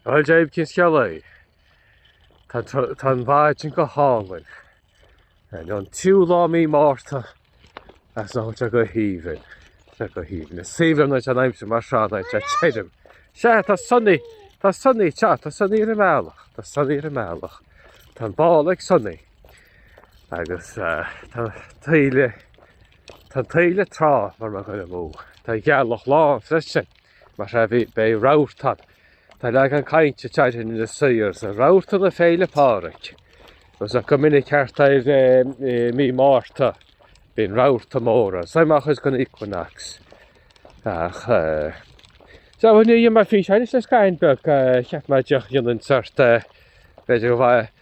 Bhuel Dia daoibh cén scéal é? Tá an mhaidin go hálainn. Ar an tríú lá mí Márta agus tá sé go haoibhinn. Tá go haoibhinn. Is breá an aimsir mar seo tirim. Sea, tá sonaí, tá sonaí, sea, tá sonaí ar an mbealach, tá sonaí ar an mbealach. Tá an ball ag sonaí agus tá taoille, tá an taoille tráite mar mar dhuine mó. Tá an ghealach lán freisin. Mar seo beidh rabharta ann. Tá leagan cainte teilgthe na saor sa rabharta na Féile Pádraig. Agus go minic thart ar mí Márta bíonn rabharta móra suimeach is gan equinox. Ach Tá bhfuil ní mar fís agus le scaitheamh beag cheap mar deoch dhéanann sórt b'fhéidir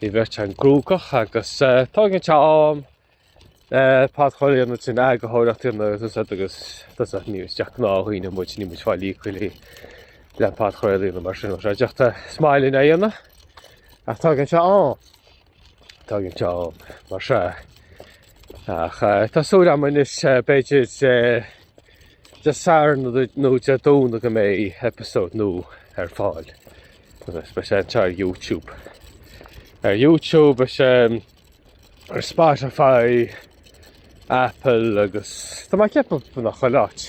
Bhí muid beagán cruógach agus tógann sé am le podchraoladh a dhéanamh trína eagarthóireacht a dhéanamh agus tusa agus tusa níl ach gnáthdhaoine muid níl muid ag fáil íoctha le podchraoladh a dhéanamh mar sin rud deac tá suim againn ann ach tógann sé am tógann sé am mar sea ach eh, tá súil agam anois eh, b'fhéidir eh, Dé Sathairn nó Dé Domhnaigh go mbeidh episode nua ar fáil. Agus beidh sé anseo ar YouTube. Ar YouTube beidh sé um, ar Spotify, Apple agus Tá mé ag ceapadh chuile áit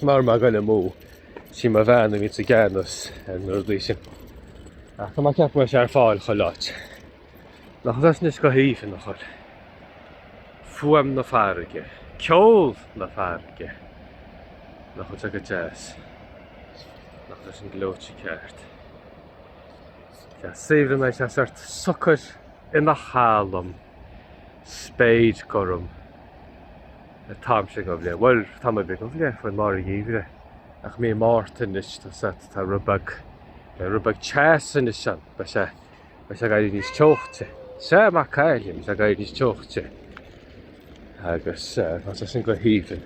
mar má goile mó sí mo bhean a bhí i gceannas an rud sin. Tá mé ag ceapadh go mbeidh sé ar fáil chuile áit. Nach bhfuil sé anois go haoibhinn a chur. Fuaim na farraige. Ceol na farraige. Nach bhfuil sé go deas. Nach bhfuil sé sin gleoite ceart. Tá saoire mé tá sé sórt socair ina chalm. Spéir ghorm. Tá táimse ag ubh lé. Bhuel, tá mé ag ubh lé faoi mar gheimhreadh. Ach mí Márta anois tá sórt tá rud beag tá rud beag teas anois ann. Beidh sé. Beidh sé ag éirí níos teocha. Sea, Mac Caillim, beidh sé ag éirí níos teocha. Agus tá sé sin go haoibhinn.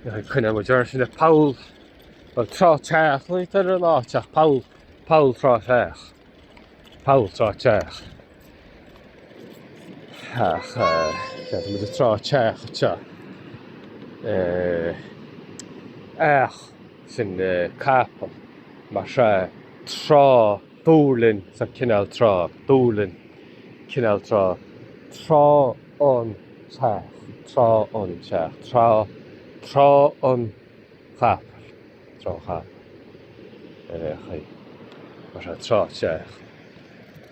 Coinneoidh muid orainn síos le Poll an trá teach, ní tar an áteach Poll Poll trá teach. Poll trá teach. Ach uh, mu a trá teach te. Uh, eh, ach sin capall mar sea Trá an Dóilín sa cineál Trá an Dóilín cineál trá trá an teach trá an teach trá trá an chapaill trá an chapaill ar chaoi mar sea trá teach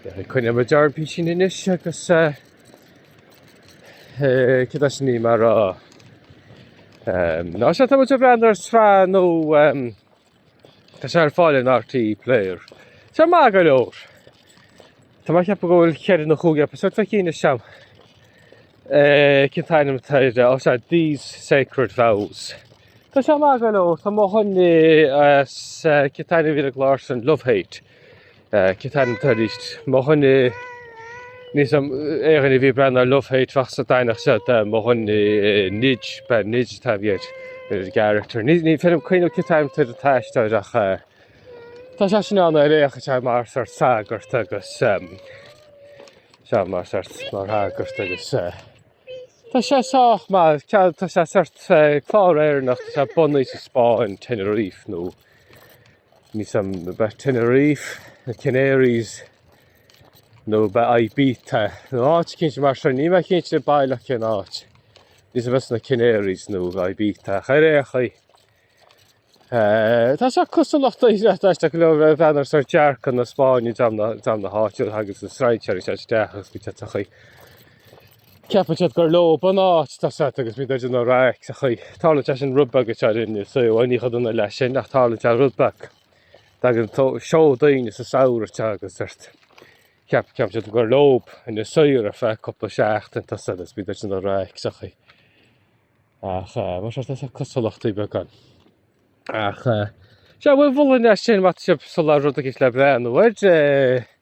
ar chaoi coinneoidh muid orainn píosa anois agus Cad as sin í mar a rá. Ná seo tá muid ag breathnú ar sraith nua tá sé ar fáil ar an RTÉ Player. Tá maith go leor. Tá mé ag ceapadh go bhfuil ceithre nó chúig eipeasóid feicthe againn as seo. Cén t-ainm atá air ó sea These Sacred Vows. Tá sé maith go leor. Tá mo dhuine as cén t-ainm ar an gclár sin Love Hate. Cén t-ainm atá air arís? Mo dhuine níl a fhios agam, aon duine a bhí ag breathnú ar Love Hate bheadh siad, d'aithneodh siad mo dhuine Nidge, bhuel Nidge an t-ainm a bhí air, ar an gcarachtar. Ní, ní féidir liom cuimhneamh cén t-ainm atá ar an aisteoir ach eh, tá sé sin ann ar aon chaoi tá mar sórt sagart agus em, sea mar sórt mar shagart agus eh, tá sé sách maith, cead, tá sé sórt eh, clár Éireannach, tá sé bunaithe sa Spáinn, Tenerife nó Níl a fhios agam b'fhéidir Tenerife, na Canaries nó b'fhéidir Ibiza nó áit eicínt mar sin. Níl mé cinnte baileach cén áit. Níl a fhios agam b'fhéidir sna Canaries nó Ibiza. Ach ar aon chaoi, eh, tá seo cosúlacht a iarracht aisteach go leor ag breathnú ar sórt dearcadh na Spáinne dream na háite agus na strainséirí ag teacht isteach agus go dtitfeadh í. Ceapann siad gur leob an áit tá a fhios agat agus bíonn siad ag déanamh raic sa chaoi. Tarlaíonn sé sin rud beag anseo in Inis Oírr ní chomh dona leis sin ach tarlaíonn sé rud beag. Tagann turasóirí daoine sa samhradh te agus sórt. Ceap ceapann siad gur leob Inis Oírr ar feadh cúpla seachtain tá a fhios agat agus bíonn siad ag déanamh raic sa chaoi. Ach eh, mar sin tá cosúlachtaí beaga ann. Ach eh, sé bhfuil bhfuil an leis sin mat sib sa lá rud deas le breathnú air.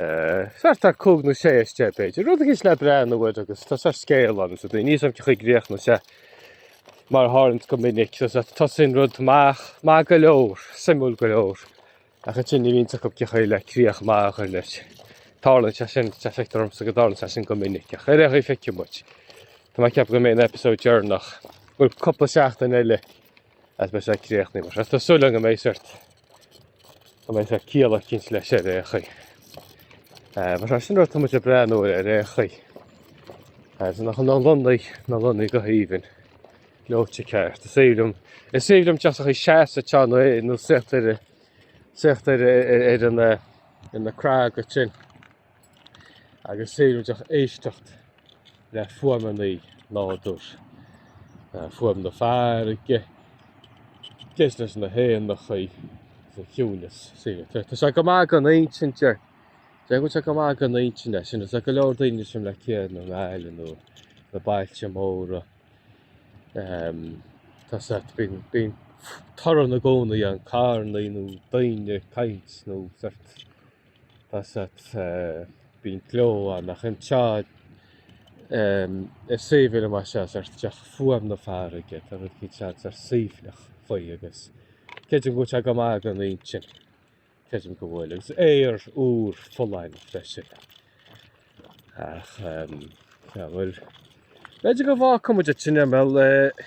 Thart ar cúig nó sé as deich b'fhéidir. Rud deas le breathnú air agus tá sórt scéal ann so níl a fhios agam cén chaoi a gcríochnóidh sé ach mar a tharlaíonn go minic so sórt tosaíonn rud maith, maith go leor, suimiúil go leor ach ansin ní bhíonn a fhios acub cén chaoi le críoch maith a chur leis. Tarlaíonn sé sin, tá sé feictear dhomsa go dtarlaíonn sé sin go minic ach ar aon chaoi feicfidh muid. Tá mé ag ceapadh go mbeidh an eipeasóid deireanach, bhuel cúpla seachtain eile, is beidh sé ag críochnú mar sin. Tá súil agam go mbeidh sé sórt go mbeidh sórt ciall sórt eicínt leis ar aon chaoi. Eh, mar tá sin rud atá muid ag breathnú air ar aon chaoi. Eh, so nach na Lonnaigh na Lonnaigh go haoibhinn leoite ceart. Is aoibhinn liom is aoibhinn liom teacht ag seasamh a teann é nó suí ar a suí ar ar ar an eh, ar na craga sin. agus sórt díreach éisteacht le fuaimeannaí nádúir, fuaim na farraige, ag éisteacht leis na héanachaí agus an ciúineas. Tá sé go maith don intinn, déarfainn go bhfuil sé go maith don intinn, sin tá go leor daoine thuas i mBaile Átha Cliath nó i nGaillimh nó sna bailte móra, tá a fhios agat, bíonn torann i gcónaí ann, carrannaí nó daoine ag caint nó. Asat bíonn gleo ann, ach anseo ar suíomh eile mar seo, ar nós fuaim na farraige, tá rud éigin saghas ar suaimhneach faoi agus creidim go bhfuil sé go maith don intinn, creidim go bhfuil, agus aer úr folláin freisin. Ach, um, yeah, well, b'fhéidir go bhfuil muid ag imeacht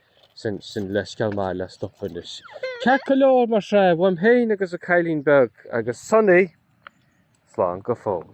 Sin, sin leithscéal maith le stopadh anois. Ceart go leor mar sin, uaim féin agus an cailín beag, agus Sonaí, slán go fóill.